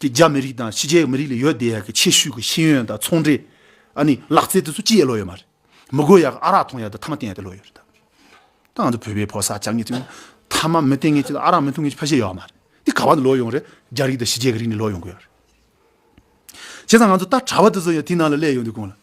ཀྱི་རྒྱ་མི་རིགས་དང་ཕྱི་རྒྱལ་མི་རིགས་ལ་ཡོད་བསྡད་ཡག་གི་ཆེ་ཤོས་ཀྱི་ཤེས་ཡོན་དང་ཚོང་འབྲེལ་ཨ་ནི་ལག་རྩལ་དེ་ཚོ་ཅི་ཡད་ལོས་ཡོད་མ་རེད་མི་དགོས་ཡག་གི་ཨ་རག་འཐུང་ཡག་དེ་ཐ་མ་བསྟེན་ཡག་དེ་ལོས་ཡོད་རེད་ད་ང་ཚོ་བོད་པའི་ཕོ་སར་ཅག་ངེད་ཚོ་ཐ་མ་མི་བསྟེན་ངེས་ཀྱི་དང་ཨ་རག་མི་འཐུང་ངེས་ཀྱི་ཕ་གཞེས་ཡོད་མ་རེད་དེ་ག་བ་ནས་ལོས་ཡོང་རེད་རྒྱ་རིགས་དང་ཕྱི་རྒྱལ་གྱི་རིགས་ནས་ལོས་ཡོང་དགོས་ཡག་རེད་བྱས་ཙང་ང་ཚོ་ལྟར་གྲྭ་བ་དེ་ཚོ་ཡང་དེའི་ནང་ལ་སླེབས་ཡོང་དུས་དགོངས་ལ།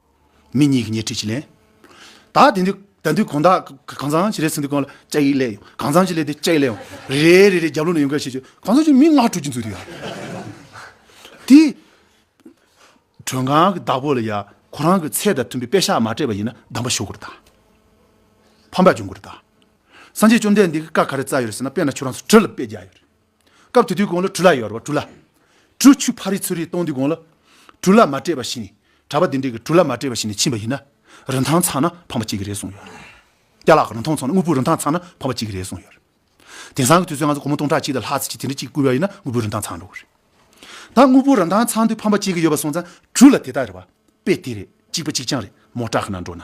མི་གཉིས་ཀྱིས་ཉེ་ཁྲིད་བྱས། ལན། ད་དེ་འདི་ད་འདི་གང་དག་གང་ཚང་ཅི་རེད་ཟེར་འདི་གང་ལ་ལྕགས་ཡིག་ལས་ཡོང་གང་ཚང་ཅི་ལས་འདི་ལྕགས་ཡིག་ལས་ཡོང་རེ་རེ་རེ་རེ་རྒྱབ་ལོག་ནས་ཡོང་ག་ཤེས་ཤེས་གང་ཚང་ཅི་མི་ལྔ་དྲུག་ཅིག་འཛུལ་འདུག་ཡ། དེ། གྲོས་ཁང་གི་བདག་པོ་ལ་ཡ་ཁོ་རང་གི་ཚད་དང་མཐུན་པའི་དཔེ་ཤག་མ་སྤྲད་པ་ཡིན་ན་གདམས་པ་ཞུ་དགོས་རེད་དཱ། ཕམ་པ་བྱུང་དགོས་རེད་དཱ། སངས་རྒྱས་བཅོམ་ལྡན་འདས་ཀྱི་བཀའ་ག་རེ་རྩ་ཡོད་རེད་ཟེར་ན་དཔེ་ན་ཁྱོད་རང་ཚོ་གྲི་ལ་དཔེ་རྒྱག་ཡོད་རེད། སྐབས་དེ་དུས་དགོང་ལ་གྲུ་ལ་ཡོར་བ་གྲུ་ལ། གྲུ་ཆུ་ཕ་རི་ཚུ་རི་གཏོང་དུས་དགོང་ལ། གྲུ་ལ་མ་སྤྲད་པ་ཞིག་ནས་གྲྭ་པ་དེ་འདྲས་ཀྱི་གྲུ་ལ་མ་སྤྲད་པ་ཞིག་ནས་ཕྱིན་པ་ཡིན་ན། རིན་ཐང་ཚང་ན་ཕངས་པ་སྐྱེ་གི་རེད་གསུངས་ཡོད། སྐྱ་ལག་གི་རིན་ཐང་ཚང་ན་དངུལ་བུའི་རིན་ཐང་ཚང་ན་ཕངས་པ་སྐྱེ་གི་རེད་གསུངས་ཡོད། དེང་སང་གི་དུས་ཚོད་ང་ཚོ་སྒོར་མོ་སྟོང་ཕྲག་གཅིག་དང་ལྷག་ཚིགས་གཅིག་དེ་འདྲ་གཅིག་བསྐུར་བ་ཡིན་ན་དངུལ་བུའི་རིན་ཐང་ཚང་འགྲོ་གི་རེད། ད་དངུལ་བུའི་རིན་ཐང་ཚང་དུས་ཕངས་པ་སྐྱེ་གི་ཡོད་པ་སོང་ཙང་གྲུ་ལ་དེ་དག་རེད་པ་དཔེ་དེ་རེད་གཅིག་པ་གཅིག་རྐྱང་རེད་མོ་སྐྲག་གི་ན་འགྲོ་ན།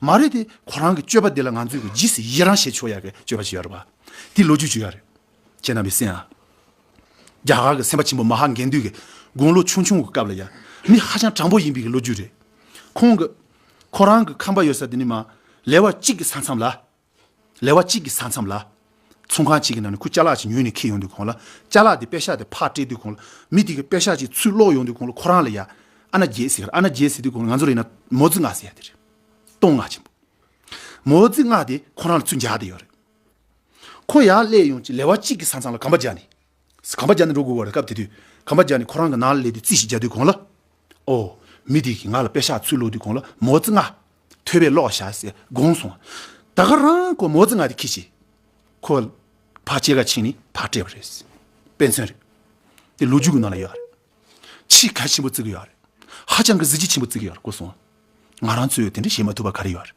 མ་རེད་དེ་ཁོ་རང་གི་སྤྱོད་པ་འདི་ལ་ང་ཚོས་གི་ཇི་སྲིད་ཡི་རང་བྱེད་ཆོག་ཡ་གི་སྤྱོད་པ་བྱེད་ཡོད་རེད་པ། དེ་ལོ་རྒྱུས་བརྗོད་ཡ་རེད། ཁྱེད་རྣམ་པས་སེམས་ཨ། རྒྱ་གར་གི་སེམས་པ་ཆེན་པོ་མ་ཧཱ་འགན་དུས་གི་དགུང་ལོ་ཆུང་ཆུང་གི་སྐབས་ལ་ཡ། མི་ཧ་ཅང་དྲང་པོ་ཡིན་པའི་གི་ལོ་རྒྱུས་རེད། ཁོང་གི། ཁོ་རང་གི་ཁམས་པ་ཡོད་ས་དེ་ནི་མ། ལེ་བ་གཅིག་གི་ས་མཚམས་ལ། ལེ་བ་གཅིག་གི་ས་མཚམས་ལ། ཚོང་ཁང་གཅིག་གི་ནང་ནས་ཁུ་བཅའ་ལག་ཅིག་ཉོས་ནས་འཁྱེར་ཡོང་དུས་གོང་ལ་བཅའ་ལག་དེ་པད་ཤག་དེ་ཕར་སྤྲད་དུས་གོང་ལ་མི་དེ་གི་པད་ཤག་ཅིག་ཚུར་བསློགས་ཡོང་དུས་གོང་ལ་ཁོ་རང་ལ་ཡ། ཨ་ན་རྒྱལ་ཟེར་ཨ་ན་རྒྱལ་ཟེར་དུས་གོང་ལ་ང་ཚོར་ཡིན་ན་མོ་རྫི་སྔགས་ཟེར་ཡ་དེ་རེད། གཏོང་སྔགས་ཆེན་པོ། མོ་རྫི་སྔགས་དེ་ཁོ་རང་ལ་ཚུར་འཇགས་དེ་ཡོད་རེད། ཁོ་ཡར་སླེབས་ཡོང་ཅིག་ལེ་བ་གཅིག་གི་ས་མཚམས་ལ་གམ་པ་རྒྱག་ནས། གམ་པ་རྒྱ་ནས་འགྲོ་དགོས་བ་རེད་སྐབས་དེ་དུས་གམ་པ་རྒྱ་ནས་ཁོ་རང་གི་ནགས་ལས་དེ་རྩིས་ཞིག་རྒྱག་དུས་གོང་ལ། ཨོ། མི་དེ་གིས་ང་ལ་དཔེ་ཞག་ཚུར་ལོག་དུས་གོང་ལ་མོ་རྩི་ལྔ། ཐོད་པའི་ལོག་ཞག་ཟེར་དགོངས་སོང། ད་ག་རང་ཁོ་མོ་རྩི་ལྔ་དེ་ཁྱི་ཞིག། ཁོ། བག་ཕྱེད་ཀ་ཕྱིན་ནས་བག་སྤྲད་པ་རེད། དཔེ་མཚོན་རེད། དེ་ལོ་རྒྱུས་ཀྱི་ནང་ལ་ཡོད་རེད། ཕྱིས་གལ་ཆེན་པོ་བརྩི་གི་ཡོད་རེད། ཧ་ཅང་གི་གཟི་བརྗིད་ཆེན་པོ་བརྩི་གི་ཡོད་རེད་གོ་སོང། ང་རང་ཚོས་དེ་འདྲ་བྱེད་མ་ཐུབ་པ་ག་རེ་ཡོད་རེད།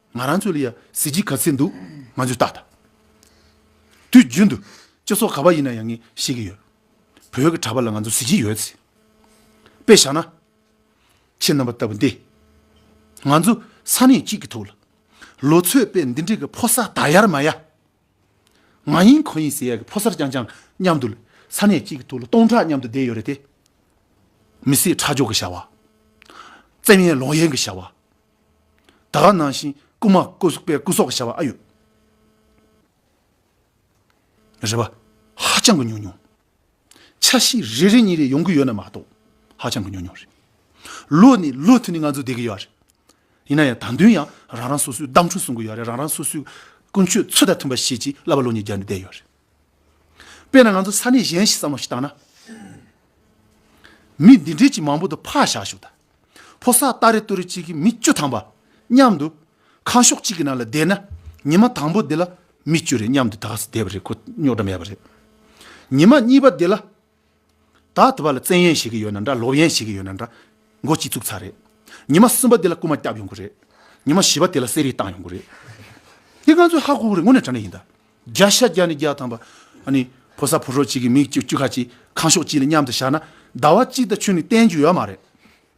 ང་རང་ཚོ་ལ་ཡང་གཟི་བརྗིད་ག་ཚད་འདུག་ང་ཚོས་བརྟག་ཐབས། དུས་རྒྱུན་དུ་སྤྱི་ཚོགས་ག་བ་ཡིན་ན་ཡང་ངས་ཤེས་ཀྱི་ཡོད། བོད་ཀྱི་གྲྭ་པ་ལ་ང་ཚོར་གཟི་བརྗིད་ཡོད་ཚེ། དཔེ་བཞག་ན། ཁྱེད་རྣམ་པ་ལྟ་བུ་འདིས། ང་ཚོ་ས་གནས་གཅིག་གི་ཐུགས་ལ། ལོ་ཚོད་དཔེ་འདི་འདྲའི་གི་ཕོ་གསར་དག་ཡར་མ་ཡ། ང་ཡིན་ཁོ་ཡིན་ཟེར་ཡ་གི་ཕོ་གསར་རྐྱང་རྐྱང་མཉམ་དུ། ས་གནས་གཅིག་གི་ཐུགས་ལ་སྟོང་ཕྲག་མཉམ་དུ་བསྡད་ཡོད་རེད་དེ། མི་སེར་ཁྲག་སྦྱོར་གི་བྱ་བ། བཙན་གཡེམ་ལོག་གཡེམ་གི་བྱ་བ། དག་ནང་བཞིན་སྐུ་མ་སྐུ་གཟུགས་པའི་སྐུ་སོགས་བྱ་བ་ཨ་ཡོད། རེ་བ་ཧ་ཅང་གི་ཉུང་ཉུང། ཆ་ཤས་རེ་རེ་གཉིས་རེ་ཡོང་གི་ཡོད་ན་མ་གཏོགས་ཧ་ཅང་གི་ཉུང་ཉུང་རེད། ལོ་ནས་ལོ་མཐུད་ནས་ང་ཚོ་བསྡད་ཀྱི་ཡོད་རེད། ཡིན་ན་ཡང་ད་དུང་ཡང་རང་རང་སོ་སོའི་གདམས་ཁྲུས་གསུང་གི་ཡོད་རེད་རང་རང་སོ་སོའི་ཀུན་སྤྱོད་ཚུལ་དང་མཐུན་པ་བྱེད་ཀྱིས་བསླབ་པ་ལོ་གཉིས་བརྒྱ་ནས་བསྡད་ཡོད་རེད། དཔེར་ན་ང་ཚོ་ས་གནས་གཞན་ཞིག་བསམ་བློ་ཞིག་བཏང་ན། མི་འདི་འདྲས་ཀྱིས་མང་པོ་དུ་ཕག་བཞག་བཞུགས་ད། ཕོ་སར་སྟ་རེ་སྟོད་རེ་གཅིག་གིས་མི་བཅུ་ཐང་པ་མཉམ་དུ་ཁང་ཤོག་གཅིག་གི་ནང་ལ་བསྡད་ན་ཉི་མ་དང་པོ་དེ་ལ་མི་བཅུ་རེ་མཉམ་དུ་དགའ་བསུ་བསྡད་པ་རེད་ཁོ་རྙོག་དྲ་མེད་པ་རེད། ཉི་མ་གཉིས་པ་དེ་ལ། ད་ལྟ་བར་ལ་བཙན་གཡེམ་བྱེད་ཀྱི་ཡོད་ན་འདྲ་ལོག་གཡེམ་བྱེད་ཀྱི་ཡོད་ན་འདྲ་མགོ་སྐྱིད་བཙུགས་ཚར་རེད། ཉི་མ་གསུམ་པ་དེ་ལ་རྐུ་མ་བསྐྱབས་ཡོང་གི་རེད། ཉི་མ་བཞི་པ་དེ་ལ་གསེར་རིས་བཏང་ཡོང་གི་རེད། དེ་ང་ཚོས་ཧ་གོ་གི་རེད་དངོས་གནས་དྲ་གནས་ཡིན་ད། བརྒྱ་ཤ་བརྒྱ་ནས་བརྒྱ་ཐམ་པ་ཕོ་གསར་ཕོ་ཧྲོག་གཅིག་གིས་མི་བཅུ་ཁ་གཅིག་ཁང་ཤོག་གཅིག་ལ་མཉམ་དུ་བཞག་ན་ཟླ་བ་གཅིག་དང་ཆུ་ནི་བསྟན་རྒྱུ་ཡོད་མ་རེད།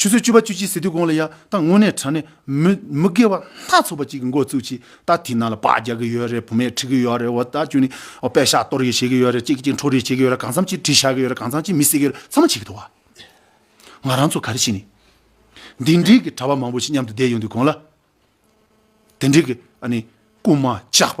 ཆུ་ཚོད་བཅུ་པ་བཅུ་གཅིག་ཟེར་དུས་གོང་ལ་ཡ་ད་ངུ་ནས་དྲན་ནས་མི་མི་དགེ་བ་སྣ་ཚོགས་པ་ཅིག་གི་མགོ་བཙུགས་ཀྱིས་ད་དེའི་ནང་ལ་བག་རྒྱག་གི་ཡོད་རེད་བུ་མེད་ཁྲིད་གི་ཡོད་རེད་འོ་ད་ཁྱོད་ནི་པད་ཤག་གཏོར་ཡི་བྱེད་ཀྱི་ཡོད་རེད་ཅིག་གི་ཅིག་འཕྲོ་རེ་བྱེད་ཀྱི་ཡོད་རེད་གང་འཚམ་ཅིག་གྲི་བྱ་གི་ཡོད་རེད་གང་འཚམ་ཅིག་མི་བསད་ཀྱི་ཡོད་རེད་ཚང་མ་བྱེད་ཀྱི་འདུག་བ། ང་རང་ཚོ་ག་རེ་བྱས་ནས་འདི་འདྲིའི་གི་གྲྭ་བ་མང་པོ་ཞིག་མཉམ་དུ་བསྡད་ཡོང་དུས་གོང་ལ་དེ་འདྲིའི་གི་ཨ་ནི་རྐུན་མ་ཇག་པ་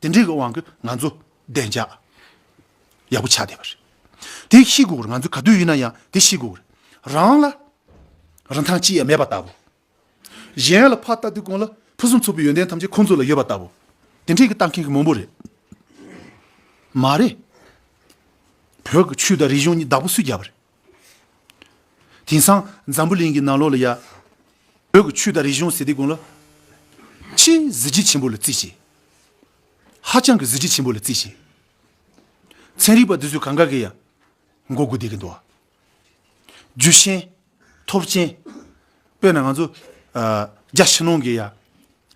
དེ་འདྲའི་གི་དབང་གིས་ང་ཚོ་བདེ་འཇགས་ཡག་པོ་ཆགས་བསྡད་པ་རེད། དེ་ཤེས་དགོས་རེད་ང་ཚོ་ག་དུས་ཡིན་ན་ཡང་དེ་ཤེས་དགོས་རེད། རང་ལ་རིན་ཐང་ཅི་ཡང་མེད་པ་ལྟ་བུ། གཞན་ལ་ཕ་ལྟ་དུས་གང་ལ་ཕུན་སུམ་ཚོགས་པའི་ཡོན་ཏན་ཐམས་ཅད་ཁོང་ཚོ་ལ་ཡོད་པ་ལྟ་བུ། དེ་འདྲའི་གི་ལྟ་མཁན་གི་མང་པོ་རེད། མ་རེད། བོད་ཀྱི་ཆོས་དང་རིག་གཞུང་གཉིས་བདག་པོ་སུས་རྒྱབ་པ་རེད། དེང་སང་འཛམ་བུ་གླིང་གི་ནང་ལོགས་ལ་ཡང། བོད་ཀྱི་ཆོས་དང་རིག་གཞུང་ཟེར་དེ་ཀུན་ལ། ཆེས་གཟི་བརྗིད་ཆེན་པོ་ལ་བརྩི་ཞིང། ཧ་ཅང་གི་གཟི་བརྗིད་ཆེན་པོ་ལ་བརྩི་ཞིང། ཚན་རིག་པ་འདི་ཚོས་གང་གཱ་གི་ཡང་མགོ་སྒུར་བསྡད་ཀྱི་འདུག། རྒྱུ་ཆེན། ཐོབ་ཆེན། དཔེར་ན་ང་ཚོ། རྒྱ་ཕྱི་ནང་གི་ཡང།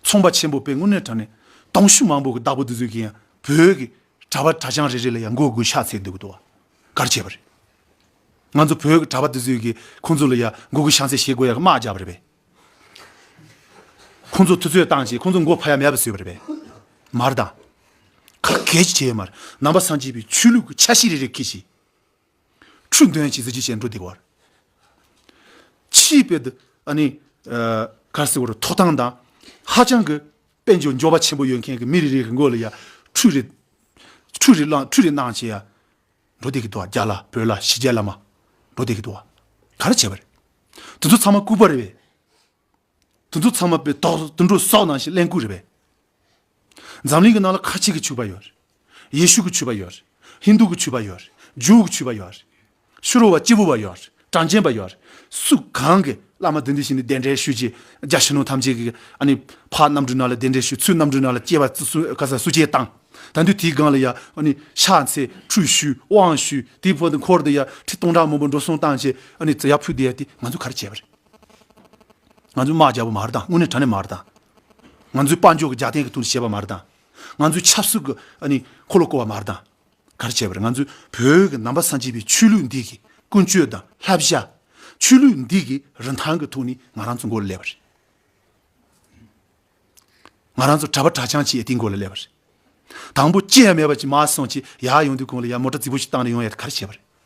ཚོང་པ་ཆེན་པོ་དཔེ་དངོས་གནས་དྲ་ནས་གདོང་ཞུ་མང་པོ་གི་བདག་པོ་འདི་ཚོས་ཀྱི་ཡང་བོད་ཀྱི་གྲྭ་བ་གྲྭ་བྱང་རེ་རེ་ལ་ཡང་མགོ་སྒུར་ཤ་ཚའི་འདུག་གི་འདུག། གར་བྱས་པ་རེད། ང་ཚོ་བོད་གྲྭ་པ་དེ་ཚོས་ཀྱི་ཁོང་ཚོ་ལ་ཡ་མགོ་གུ་ཤང་ཚེ་ཞེས་དགོས་ཡ་གི་དམག་རྒྱབ་པ་རེད་པས། ཁོང་ཚོ་ཐུ་ཚོད་བཏང་བྱས་ཁོང་ཚོ་མགོ་ཕ་ཡ་མེད་པ་བཟོས་པ་རེད་པས། མར་དང། ག་གལ་ཅི་བྱས་ཡོད་མར་ནང་པ་སངས་རྒྱས་པའི་ཆོས་ལུགས་ཀྱི་ཆ་ཤས་རེ་རེ་ཁེ་ཞིག། འཕྲུལ་འདོན་བྱས་ཚེ་ཅི་བྱས་འགྲོ་བདེ་བར། ཆིས་པད་ཨ་ནི། གར་སི་བར་ཐོག་ཐང་དང་ཧ་ཅང་གི་དཔལ་འབྱོར་འབྱོར་བ་ཆེན་པོ་ཡོད་མཁན་གྱི་མི་རེ་རེའི་རི་མགོ་ལ་ཡང་ཁྲུས་རེ། ཁྲུས་རེ་བླངས་ཁྲུས་རེ་གནང་བྱས་ཡ། འགྲོ་བསྡད་ཀྱི་འདུག་རྒྱ་ལ་བོད་ལ་ཞི་རྒྱས་བླ་མ། འགྲོ་བསྡད་ཀྱི་འདུག་ག་རེ་བྱས་པ་རེད། དེ་ཚོ་ཚང་མ་སྐུ་པར་རེད་པས། དེ་ཚོ་ཚང་མ་པའི་དོག་དུད་འགྲོ་སོག་ནང་བཞིན་གླེན་ལྐུག་རེད་པས། འཛམ་གླིང་གི་ནང་ལ་ཁ་ཆེ་གི་ཆུ་བར་ཡོད་རེད། ཡེ་ཤུ་གི་ཆོས་པ་ཡོད། ཧིན་དུ་གི་ཆོས་པ་ཡོད། ཇོའུ་གི་ཆོས་པ་ཡོད། ཤུ་རོ་བ་སྐྱེས་བུ་བ་ཡོད། གྲངས་ཅན་པ་ཡོད། སུ་གང་གིས་བླ་མ་དེ་འདི་བཞིན་དུ་བདེན་བྲལ་ཤུལ་གྱི་རྒྱ་ཆེན་ནོ་ཐམས་ཅད་ཀྱི་ཕ་རྣམ་འཕྲུལ་ནཱ་ལ་བདེན་བྲལ་ཤུལ་ཚུལ་རྣམ་འཕྲུལ་ནཱ་ལ་སྐྱེ་བ་ག་ས་སུ་སྐྱེ་བཏང། ད་འདུས་དེའི་སྒང་ལ་ཡང་ཤ་ཚེ་འཕྲུལ་ཤུལ་དབང་ཤུལ་དེའི་ཕོ་དེ་འཁོར་དེ་ཡང་ཁྲི་སྟོང་ཕྲག་མང་པོ་འགྲོ་སོང་བཏང་བྱས་ཙི་ཡག་ཕུད་དེ་ང་ཚོ་ག་རེ་བྱས་པ་རེད། ང་ཚོ་དམག་རྒྱ་པོ་མ་རེད་དམ་དངོས་གནས་དྲ་གནས་མ་རེད་དམ། ང་ཚོའི་དཔའ་འཇོག་གི་རྒྱ་སྟེན་གྱི་དུང་ཞེས་པ་མ་རེད་དམ། ང་ཚོས་ཆབ་སྲིད་ཀྱི་འཁོར་ལོ་བསྐོར་བ་མར་དང་གར་བྱས་པར་ང་ཚོས་བོད་ཀྱི་ནང་པ་སངས་རྒྱས་པའི་ཆོས་ལུགས་འདི་གི་ཀུན་སྤྱོད་དང་ལྷ་བཞག་ཆོས་ལུགས་འདི་གི་རིན་ཐང་གི་ཐོག་ནས་ང་རང་ཚོ་མགོ་ལ་སླེབས་པ་རེད། ང་རང་ཚོ་གྲྭ་པ་གྲྭ་ཆང་བྱས་དེ་མགོ་ལ་སླེབས་པ་རེད། དང་པོ་ཅི་ཡང་མེད་པ་ཅིག་མ་སོང་ཅིག་ཡག་ཡོང་དུས་གོང་ལ་ཡར་མོ་ཏྲ་རྫིག་པོ་ཞིག་བཏང་ནས་ཡོང་ཡ་དེ་གར་བྱས་པ་རེད།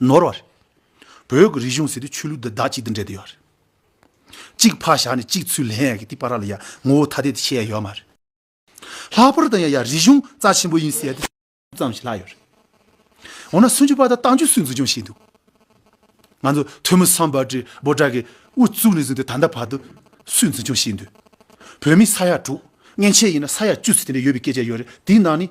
ནོར་བ་རེད། བོད་ཀྱི་རིག་གཞུང་ཟེར་དུས་ཆོས་ལུགས་དེ་བདག་གཅིག་ཏུ་འདྲེས་དུ་ཡོད་རེད། གཅིག་ཕ་བཞག་ནས་གཅིག་ཚུར་ལེན་ཡག་གི་དེ་པ་ར་ལ་ཡ་ངོ་བོ་ཐ་དད་དུ་ཕྱེ་ཡ་ཡོད་མ་རེད། ལྷག་པར་དུ་ཡང་ཡ་རིག་གཞུང་རྩ་ཆེན་པོ་ཡིན་ཟེར་དུས་སུ་ཙམ་ཞིག་ལྷག་ཡོད་རེད། འོ་ན་སུ་འཇུག་པ་དང་རྟགས་འཇུག་སུས་འཛུགས་སྐྱོང་བྱས་འདུག་ང་ཚོ་ཐོན་མི་སམ་བར་དྲི་བོ་དག་གིས་དབུ་བཙུགས་ནས་བཟུང་སྟེ་ད་ལྟ་བར་དུ་སུས་འཛུགས་སྐྱོང་བྱས་འདུག་བོད་མི་ས་ཡ་དྲུག་མཉེན་ཆས་ཡིན་ན་ས་ཡ་བཅུ་ཚུད་དེ་འདྲ་ཡོད་པའི་སྐད་ཆ་ཡོད་རེད་དེའི་ནང་ནས་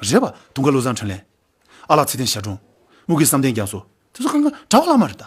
རེད་པ། དུང་དཀར་བློ་བཟང་འཕྲིན་ལས། ཨ་ལགས་ཚེ་བརྟན་ཞབས་དྲུང། དམུ་དགེ་བསམ་གཏན་རྒྱ་མཚོ། དེ་ཚོ་གང་ག་གྲྭ་བ་བླ་མ་རེད་ད།